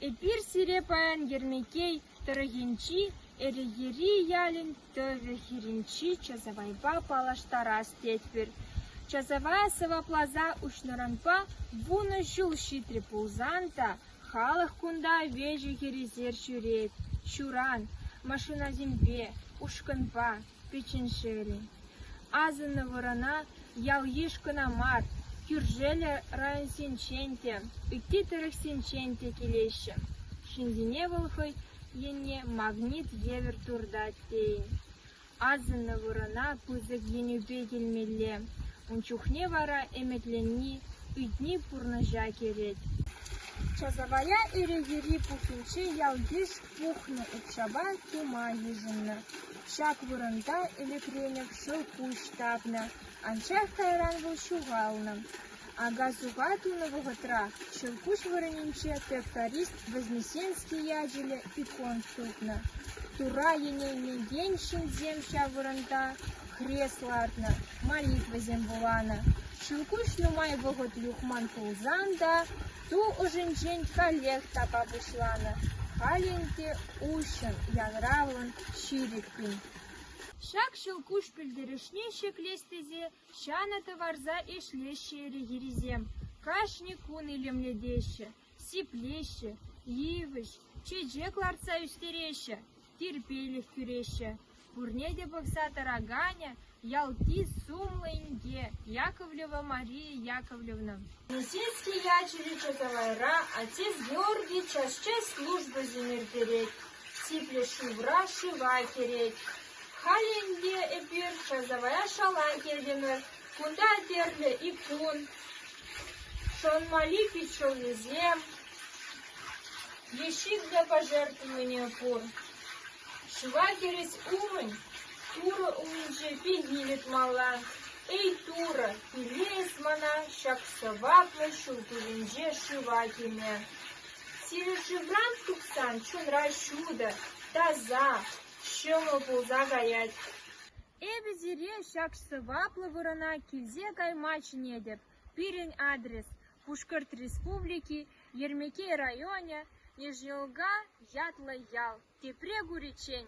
Эпир сире паян Ермеккей тӑрӑхӗнчи Эрегери ялӗн тӑвӗ хирӗнчи часавайпа паллаштарас тетпӗр. Часавая сӑвапласа уҫнӑранпа вунӑ ҫул ҫитрӗ пулсан та халӑх кунта веҫӗ-хӗресер ҫӳрет, ҫуран, машинасемпе, ушкӑнпа. Печеншери, асӑннӑ вырӑна ял-йыш кӑна мар, кӳршеллӗ районсенчен те, ытти тӑрӑхсенчен те килеҫҫӗ. Ҫынсене вӑл хӑй енне магнит евӗр туртать тейӗн. Асӑннӑ вырӑна пысӑк енӳпе килмелле, ун чухне вара ӗмӗтленни, ыйтни пурнӑҫа кӗрет. Часавая Ире юри пухӗнчи ял-йыш Пухнӑ укҫапа тума йышӑннӑ. Ҫак вырӑнта ӗлӗкренех шӑл пуҫ тапнӑ, анчах кайран вӑл ҫухалнӑ. Ака-суха тунӑ вӑхӑтра ҫӑлкуҫ вырӑнӗнче тракторист Вознесенский ячӗллӗ икон тупнӑ. Тура йӗнелнекен ҫынсем ҫав вырӑнта хрес лартнӑ, молитвӑсем вуланӑ. Ҫӑлкуҫ нумай вӑхӑт юхман пулсан та Ту ӑшӗнчен каллех тапа пуҫланӑ, халь ӗнтӗ уҫҫӑн, янравлӑн, ҫирӗппӗн. Ҫак ҫӑлкуҫ пӗлтерӗшне ҫӗклес тесе ҫанӑ тӑварса ӗҫлеҫҫӗ эрехирисем. Кашни кун илемлетеҫҫӗ, сиплеҫҫӗ, йывӑҫ, чечек лартса ӳстереҫҫӗ. Тирпейлӗх кӳреҫҫӗ. Пурне те пӑхса тӑраканӗ ялти сумлӑ инке Яковлева Мария Яковлевна. Лысицкий ячӗллӗ Чотавайра отец Георгий час-час службӑсем ирттерет, сиплӗ шывра шыва кӗрет. Халь ӗнтӗ эпир часавая шала килтӗмӗр. Кунта тӗрлӗ икун, шӑнмали питҫӑллисем, Лещик та пӑшӑрханнине кур, шыва хирӗҫ умӗн турӑ умӗнче пенне йӑтмалла. Эй, турӑ, пире эс мана ҫак сӑваплӑ ҫул тӗлӗнче шыва кӗме. Сирӗн шывран тухсан чунра ҫутӑ, таса, ҫӑмӑл пулса каять. Эпӗ сире ҫак сӑваплӑ вырӑна килсе кайма чӗнетӗп, пирӗн адрес Пушкӑрт Республики Ермеккей районӗ Ежелга ятлӑ ял, тепре куриччен,